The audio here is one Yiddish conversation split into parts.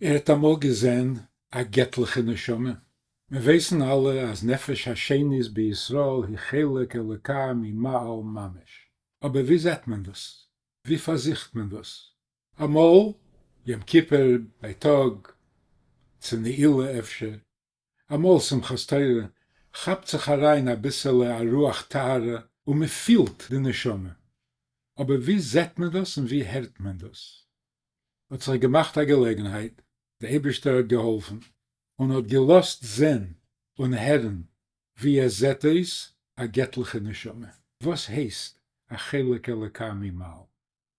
ער האט אמאל געזען א געטליכע נשמה? מיר ווייסן אלע אז נפש השנית בישראל היא חלק אלוקי ממעל ממש. אבער ווי זעט מען דאס? ווי פארזוכט מען דאס? אמאל יום כיפור בייטאג, צו נעילה אפשר. אמאל שמחת תורה כאפט זיך אריין אביסעלע א רוח טהרה און מען פילט די נשמה, אבער ווי זעט מען דאס און ווי הערט מען דאס? האט זיך געמאכט א געלעגנהייט, די אייבערשטער האט געהאלפן און האט געלאזט זען און הערן ווי עס זעט אויס א געטליכע נשמה, וואס הייסט א חלק אלוקי ממעל.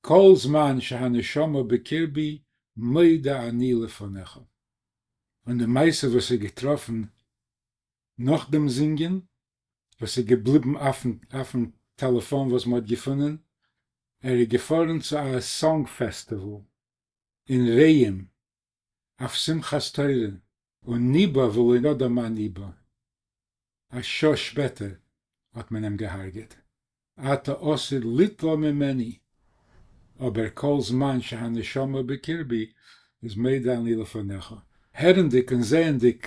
כל זמן שהנשמה בקרבי מודה אני לפניך. און די מעשה וואס איז געטראפן נאך דעם זינגען, וואס איז געבליבן אויפן טעלעפאן וואס מען האט געפונען, ער איז געפארן צו א סאנג פעסטיוואל אין רעים, אויף שמחת תורה. און ניבא ולא ידע מה ניבא, א שעה שפעטער האט מען אים געהארגעט, אתה עושה ליטלא ממני, אבער כל זמן שהנשמה בקרבי אז מדה אני לפניך. הערנדיג און זעענדיג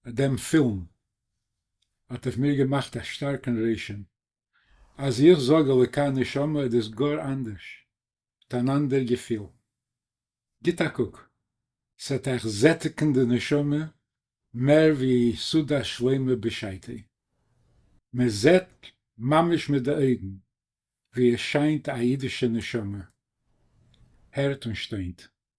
דעם פילם האט אויף מיר געמאכט א שטארקן רושם, אז איך זאג אלוקי נשמה איז דאס גאר אנדערש, האט אן אנדער געפיל. גיט א קוק, ס'עט אייך זעטיגן די נשמה מער ווי סעודה שלמה בשעתה. מען זעט ממש מיט די אויגן ווי עס שיינט א אידישע נשמה. הערט און שטוינט.